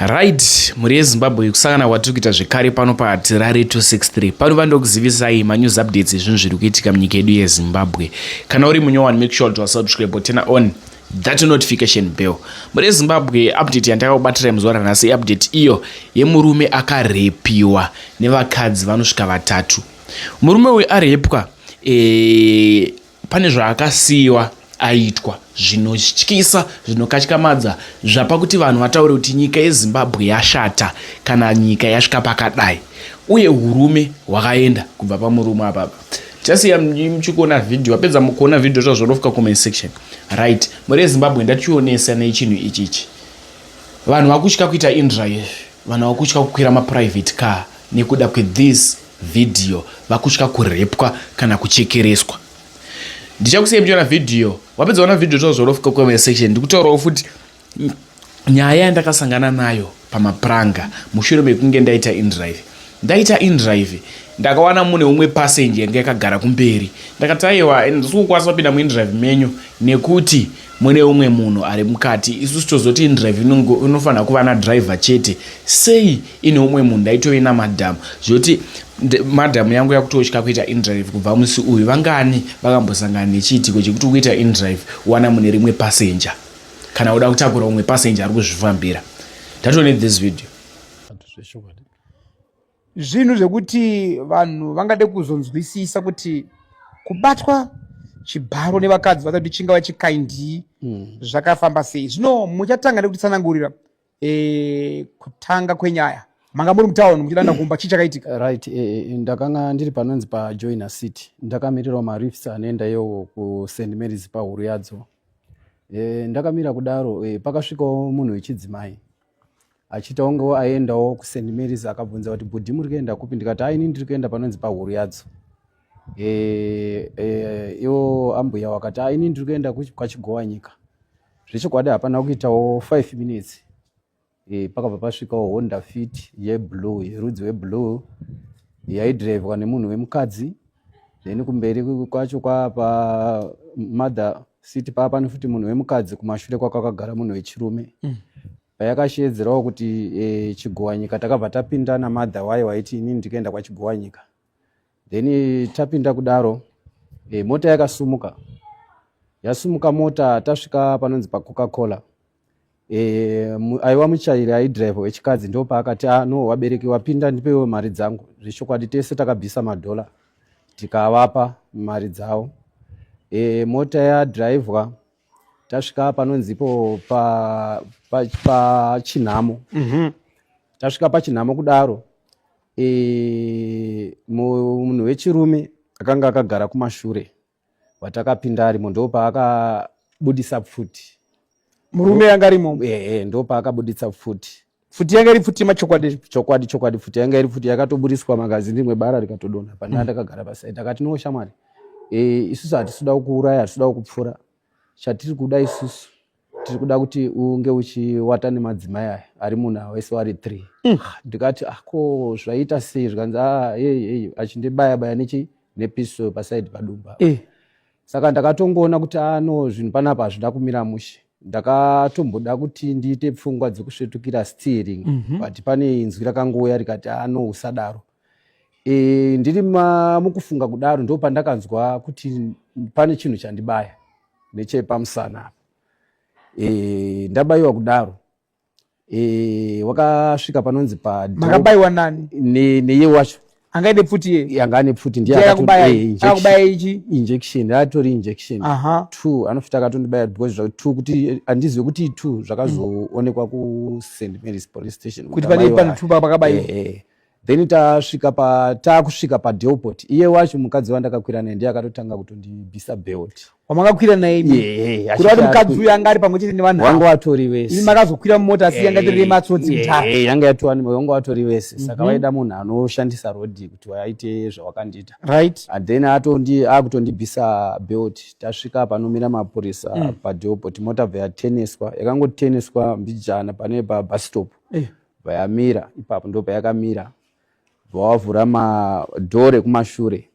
Right, mhuri yeZimbabwe kusangana kwatiri kuita zvekare pano paTirare 263. Pano vandokuzivisai manews updates ezvinhu zviri kuitika munyika yedu yeZimbabwe. Kana uri munyowani make sure kuti wasubscribe or turn on that notification bell. Mhuri yeZimbabwe update yandakakubatira muzuva ranhasi update iyo yemurume akarepiwa nevakadzi vanosvika vatatu. Murume uyu arepwa eh, Pane zvaakasiyiwa aitwa zvinotyisa zvinokatyamadza zvapa kuti vanhu vataure kuti nyika yezimbabwe yashata kana nyika yasvika pakadai uye urume hwakaenda kubva pamurume apapa tichasiya muchikuona vhidhio wapedza mukuona vhidhio zvazvonofika comment section right mhuri yezimbabwe ndationesa nechinhu ichi ichi vanhu vakutya kuita indra izvi vanhu vakutya kukwira maprivate car nekuda kwethis video vakutya kurepwa kana kuchekereswa ndichakusiyai muchiona video wapedza kuona video totaura zvauri kufika comment section ndikutaurawo futi nyaya yandakasangana nayo pamapuranga mushure mekunge ndaita indrive ndaita indrive ndakawana mune umwe passenger yanga yakagara kumberi ndakati aiwa ndisikukwasa kupinda muindrive menyu nekuti mune umwe munhu ari mukati isusu tozoti indrive inofanira kuva nadriver chete sei ine umwe munhu ndaitove namadhamu zvekuti madhamu yangu yakutotya kuita indrive kubva musi uyu vangani vakambosangana nechiitiko chekuti ukuita indrive wana mune rimwe passenger kana uda kutakura umwe passenger ari kuzvifambira ndatone this video zvinhu zvekuti vanhu vangade kuzonzwisisa kuti kubatwa chibharo nevakadzi vasati kuti chingava chikaindii hmm. zvakafamba sei zvino muchatanga nekutitsanangurira e, kutanga kwenyaya manga muri mutown muchidanda kumba chii chakaitika right e, e, ndakanga ndiri panonzi pajoiner city ndakamirirawo marifs anoenda iyowo kust marys pahuru yadzo e, ndakamira kudaro e, pakasvikawo munhu wechidzimai achiita ongewo aendawo kust marys akabvunza kuti bhudhi muri kuenda kupi ndikati aini ndiri kuenda panonzi pahuru yadzo e, e, iwo ambuya wakati aini ndiri kuenda kwachigowa nyika zvechokwadi hapana kuitawo five minutes e, pakabva pasvikawo honda fit yeblue yerudzi weblue yaidrivwa nemunhu wemukadzi then kumberi kwacho kwapa mother city paa pane futi munhu wemukadzi kumashure kwakakagara munhu wechirume mm. payakasheedzerawo kuti e, chigowanyika takabva tapinda namadha wayo waiti inini ndikaenda kwachigowanyika then tapinda kudaro e, mota yakasumuka yasumuka mota tasvika panonzi pacoca cola Eh, aiwa muchairi aidrive wechikadzi ndo paakati ah, no wabereki wapinda ndipewo mari dzangu zvechokwadi tese takabvisa madhola tikavapa mari dzavo e, mota yadrivwa tasvika panonzipo pachinhamo pa, pa mm -hmm. tasvika pachinhamo kudaro e, munhu wechirume akanga akagara kumashure watakapinda arimo ndopaakabudisa pfuti murume yanga arimo ehe ndopaakabudisa pfuti pfuti yanga iri pfuti machokwadi chokwadi chokwadi pfuti yanga iri pfuti yakatoburiswa magazini rimwe bara rikatodonha pandanga mm. ndakagara pasaidi akati no shamwari e, isusu hatisuda kuuraya hatisuda kupfura chatiri kuda isusu tiri kuda kuti unge uchiwata nemadzimai aya ari munhu awese wari three mm. ah, ndikati ako ah, zvaita sei zvikanzi ah, ei achindibaya baya nechi nepiso pasaidi padumba eh. saka ndakatongoona kuti ano ah, zvinhu panapa hazvida kumira mushe ndakatomboda kuti ndiite pfungwa dzekusvetukira steering mm -hmm. but pane inzwi rakangouya rikati ano usadaro e, ndiri mukufunga kudaro ndo pandakanzwa kuti pane chinhu chandibaya nechepamusana apa e, ndabayiwa kudaro e, wakasvika panonzi pamakabayiwa nani neye ne wacho anga ine pfuti ye anga ane pfuti ndiye akakubaya eh, ichi injection atori injection Aha. two anofita akatondibaya because zvakuti two kuti andizive kuti two zvakazoonekwa ku st marys police station kuti pane pano two pakabaiwa eh, eh. then tasvika pa takusvika pa delport iye wacho mukadzi wandakakwira naye ndiye akatotanga kutondibisa belt wamakakwira naye imi yeah, kuti wati mukadzi uyu anga ari pamwe chete nevanhu wanga watori vese imi makazokwira mumota asi yanga itori yematsotsi mutara yeah, yanga yatowani wanga watori vese saka mm -hmm. vaida munhu anoshandisa road kuti vaite zvawakandiita right and then atondi akutondibisa belt tasvika panomira mapurisa mm. pa delport mota bva yateneswa yakangoteneswa mbijana pane pa bus stop yeah bvayamira ipapo ndo payakamira bvawavhura madhore kumashure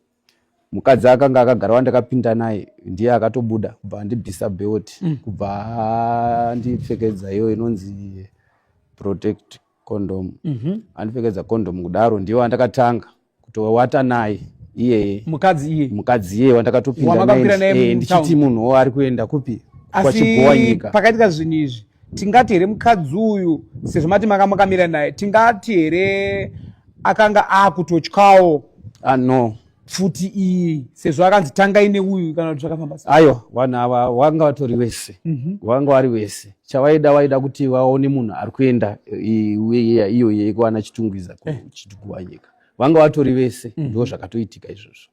mukadzi akanga akagara wandakapinda naye ndiye akatobuda kubva andibvisa belt mm. kubva andipfekedza iyo inonzi protect condom mm -hmm. andipfekedza condom kudaro ndiyo andakatanga kutowata naye iyeye mukadzi iye mukadzi iye wandakatopinda eh, ndichiti munhu ari kuenda kupi kwachigowa nyika pakaitika zvinhu izvi tingati here mukadzi uyu sezvo mati manga makamira naye tingati here akanga akutotyawo ah, no pfuti iyi sezvo akanzi tangai neuyu kana kuti zvakafamba aiwa vanhu ava wanga vatori wese mhm. wanga wari wese chavaida vaida kuti vaone munhu ari kuenda iyo yekuana chitungwiza eh. kuchitukuwa nyika vanga vatori vese mm. ndo zvakatoitika izvozvo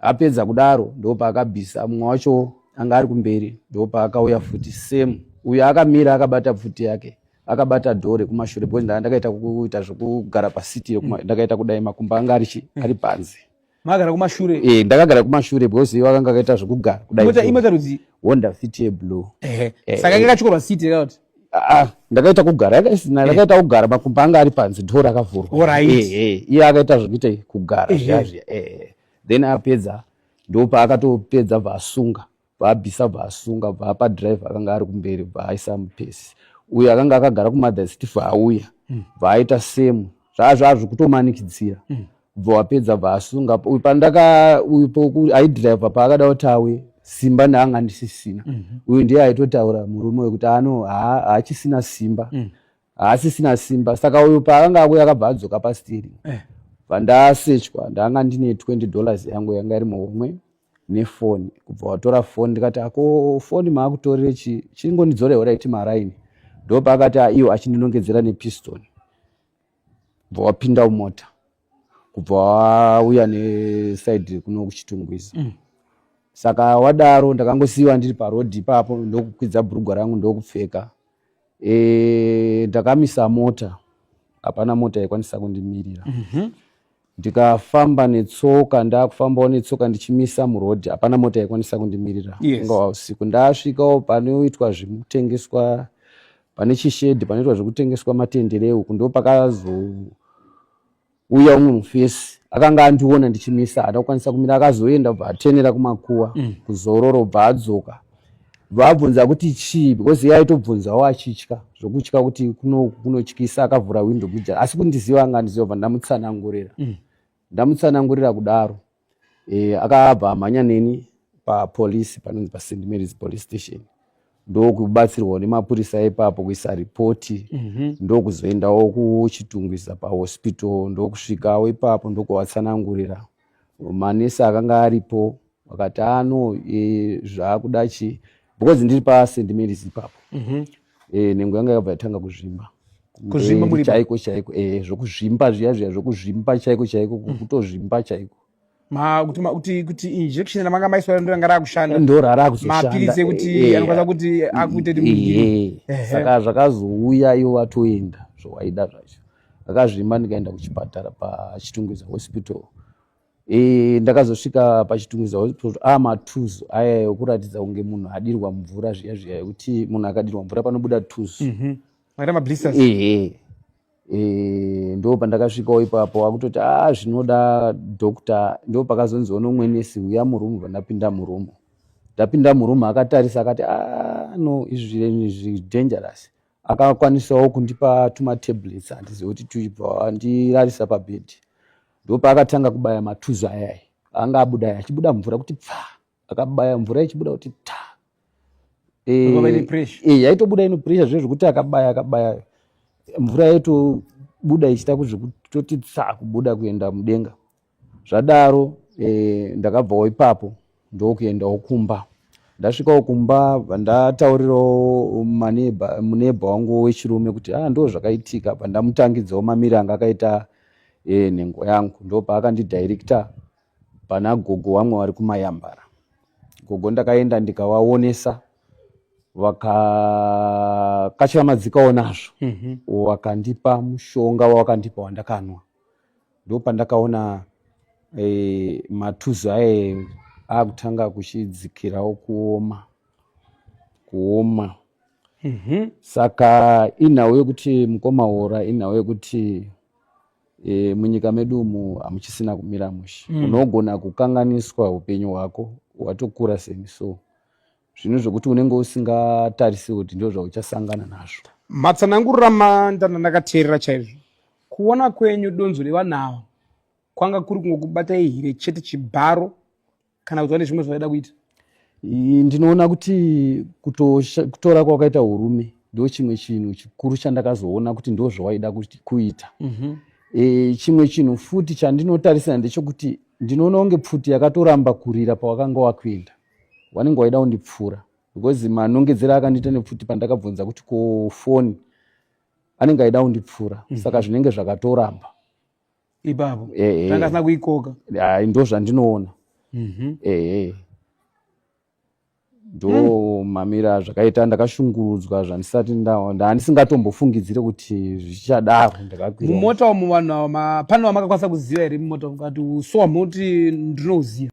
apedza kudaro ndo paakabvisa mumwe wacho anga ari kumberi ndo paakauya futi same uyo akamira akabata pfuti yake akabata dhore kumashure because ndakaita kuita zvekugara pasiti mm. ndakaita kudai makumba anga ari mm. panze mm. magara kumashure eh ndakagara kumashure because iwe akanga akaita zvekugara kudai mota imota rudzi honda fit ye blue eh, eh saka kanga chikoro seat yakat ah, ah ndakaita kugara yakasina eh. ndakaita kugara makumba anga ari panzi door akavhurwa alright eh eh iye akaita zvekuita kugara eh, zvazvi eh, eh then apedza ndopa akatopedza vasunga vaabvisa vaasunga vaapa drive akanga ari kumberi vaaisa mupesi uyo akanga akagara kumother stef auya hmm. vaaita semu zvaazvaazvi kutomanikidzira hmm. bva wapedza vaasunga uyu pandaka uyu poku aidrive paakada kuti auye simba ndaanga ndisisina mhm. uyu ndiye aitotaura murume wekuti ano haachisina simba hmm. haasisina simba saka uyu paakanga akuya akabva adzoka pasteering eh. vandasechwa ndanga ndine 20 dollars yangu yanga iri muhomwe nefoni kubva watora foni ndikati ako foni maakutorire chii chingondidzore horaiti maraini ndopaakati aiwo ah, achindinongedzera nepiston bva wapinda umota kubva wauya nesaidi kuno kuchitungwiza mm. saka wadaro ndakangosiyiwa ndiri parodhi ipapo ndokukwidza bhurugwa rangu ndokupfeka e, ndakamisa mota hapana mota yaikwanisa kundimirira mm -hmm. ndikafamba netsoka ndakufambawo netsoka ndichimisa murodhi hapana mota yaikwanisa kundimirira yes. ungava usiku ndasvikawo panoitwa zvekutengeswa pane chishedhi panoitwa zvekutengeswa matendere uku ndo pakazo uya umwe mufesi akanga andiona ndichimisa hada kukwanisa kumira akazoenda bva atenera kumakuwa mm. kuzororo bva adzoka vabvunza kuti chii because iye aitobvunzawo achitya zvokutya kuti kunotyisa akavhura windo kuja asi kundiziva anga andiziva bva ndamutsanangurira mm. ndamutsanangurira kudaro e, akabva amhanya neni papolice panonzi paSt Mary's police station ndokubatsirwawo nemapurisa ipapo kuisa ripoti mm -hmm. ndokuzoendawo kuchitungwiza pahospital ndokusvikawo ipapo ndokuvatsanangurira manesi akanga aripo vakati ano e, zvaakuda chii because ndiri paSt Mary's ipapo mm -hmm. eh nengo yanga yakabva yatanga kuzvimba kuzvimba muri chaiko chaiko eh zvokuzvimba zviya zviya zvokuzvimba chaiko chaiko mm. kutozvimba chaiko ma kuti ma kuti kuti injection ramanga maiswa ndo ranga rakushanda ndo rara kuzoshanda mapiritse kuti eh, eh, anokwanisa kuti eh, akuite kuti saka zvakazouya iwo vatoenda zvowaida zvacho akazvimba ndikaenda kuchipatara pachitungwiza hospital E, ndakazosvika pachitungiza hospital a ah, matuzu aya ekuratidza kunge munhu adirwa mvura zviya zviya yekuti munhu akadirwa mvura panobuda tuzu mm -hmm. ehe e, ndo pandakasvikawo ipapo akutoti a ah, zvinoda doctor ndo pakazonzi ono mwenesi uya murumu vandapinda murumu ndapinda murumu akatarisa akati a ah, no izvi zvidangerous akakwanisawo kundipa tumatablets handizive kuti tuibva andirarisa pabed ndo paakatanga kubaya matuzo ayai anga abuda aya achibuda mvura kuti pfa akabaya mvura ichibuda kuti ta eh, eh, yaitobuda ino pressure zve zvekuti akabaya akabaya mvura yaitobuda ichita kuzvekutoti tsa kubuda kuenda mudenga zvadaro eh, ndakabvawo ipapo ndokuendawo kumba ndasvikawo kumba ndataurirawo maneba muneba wangu wechirume kuti ah ndo zvakaitika apa ndamutangidzawo mamiri anga akaita eh, nhengo yangu ndo paakandidirecta pana gogo wamwe wari kumayambara gogo ndakaenda ndikavaonesa vakakatya madzikawo nazvo mm -hmm. wakandipa mushonga wawakandipa wandakanwa ndopandakaona e, matuzu aye akutanga kuchidzikirawo kuoma kuoma mm -hmm. saka inhau yekuti mukoma hora inhau yekuti e, munyika medu umu hamuchisina kumira mushe mm. unogona kukanganiswa upenyu hwako watokura semi so zvinhu zvokuti unenge usingatarise kuti ndo zvauchasangana nazvo matsanangurira mandanda ndakateerera chaizvo kuona kwenyu donzo revanhu ava kwanga kuri kungokubata ihire chete chibharo kana kuti vane zvimwe zvavaida kuita ndinoona kuti kutora kwakaita urume ndo chimwe chinhu chikuru chandakazoona kuti ndo zvawaida kuita mhm. e, chimwe chinhu futi chandinotarisira ndechokuti ndinoona kunge pfuti yakatoramba kurira pawakanga wakuenda wanenge waida kundipfuura because manongedzera akandiita nepfuti pandakabvunza kuti ko foni anenge aida kundipfuura mm -hmm. saka zvinenge zvakatoramba ipapo eh, eh. tangasina kuikoka ai ndo zvandinoona mm -hmm. ehe eh. ndo mm. mamira zvakaita ndakashungurudzwa zvandisati ndaandisingatombofungidzire kuti zvichadaro ndakakwira mumota umu vanhu pano vamakakwanisa kuziva here mumota ukati usowa moti ndinouziva